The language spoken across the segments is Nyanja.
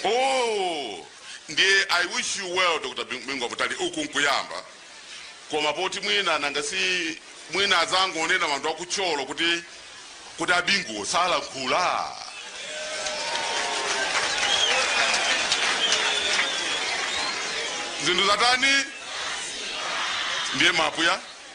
oh ndiye i wish you well dr Bingu Mutharika uku nkuyamba koma poti mwina nanga si mwina azangonena wanthu aku Thyolo kuti kuti a Binguwo salankhula zinthu zatani ndiye mapuya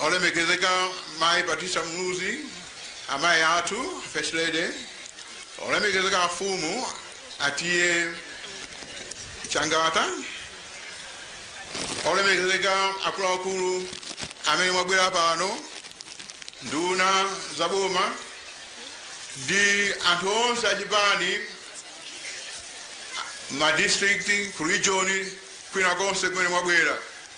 Olemekezeka Mayi Patricia Muluzi, amayi athu, First Lady, Olemekezeka Afumu, Atiye Changata, Olemekezeka akuluakulu amene mwabwera pano, nduna za boma ndi anthu onse achipani ma district ku region kwinakonse kumene mwabwera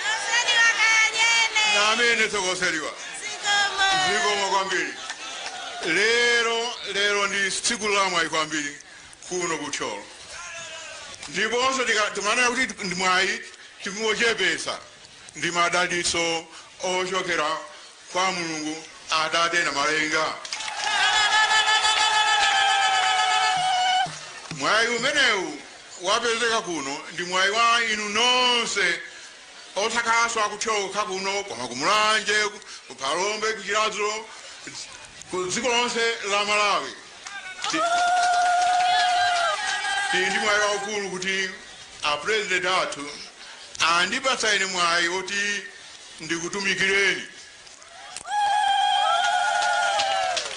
Moseliwa kanene. Namene tokoseliwa. Zikomo. Zikomo kwambiri. Lero lero ndi tsiku lamwayi kwambiri kuno ku Thyolo. Ndiponso tika- timanena kuti ndi mwayi tingochepesa ndi madalitso ochokera kwa Mulungu Atate Namalenga. Mwayi umenewu wapezeka kuno ndi mwayi wa inu nonse osakhalanso akuchoka kuno koma ku Mulanje, ku- ku Phalombe, ku Chiradzulo, dz- ku dziko lonse la Malawi. Ti- Tili ndi mwayi waukulu kuti a president athu andipatsa ine mwayi woti ndikutumikireni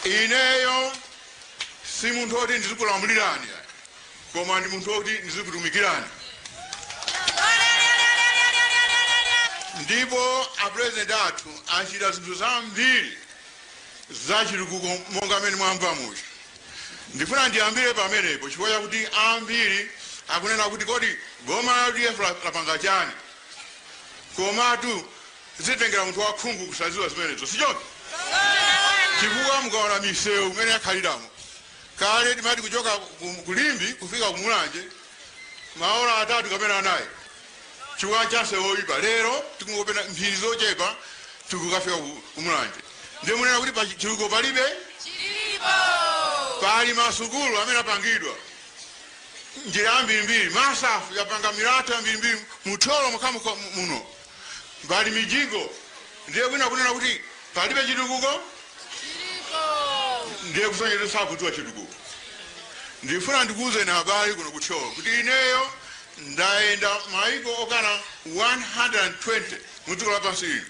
ineyo si munthu oti ndizikulamulirani ayi, koma ndi munthu oti ndizikutumikirani ndipo apurezidenti athu achita zinthu zambiri zachitukuko monga mmene mwamva muja ndifuna ndiyambire pamenepo chifukwa chakuti ambiri akunena kuti kodi boma la udf lapanga chani Komatu zitengera munthu wakhungu kusaziwa zimenezo sichoncho? Chifukwa mukaona misewu mmene yakhaliramo, kale timati kuchoka ku Limbe kufika ku Mulanje maola atatu kapena anayi chifukwa cha msewu oipa, lero tikungopita mphindi zochepa tikukafika ku Mulanje. Ndiye munena kuti chitukuko palibe? Pali masukulu amene apangidwa. njira zambirimbiri masafu yapanga milatho yambirimbiri mu thyolo mokhamu muno pali mijigo ndiye wina kunena kuti palibe chitukuko ndiye kusonyeza sakudziwa chitukuko ndifuna ndikuwuzeni abale kuno ku thyolo kuti ineyo ndayenda maiko okwana 120 mu dziko lapansi ili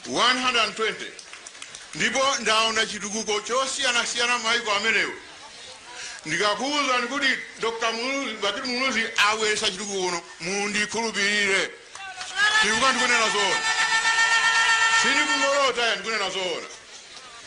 120 ndipo ndaona chitukuko chosiyanasiyana m'maiko amenewo ndikakuwuzani kuti dr bakili muluzi abweretsa chitukuko kuno mundikhulupirire chifukwa ndikunena zoona sindikungolota ya ndikunena zoona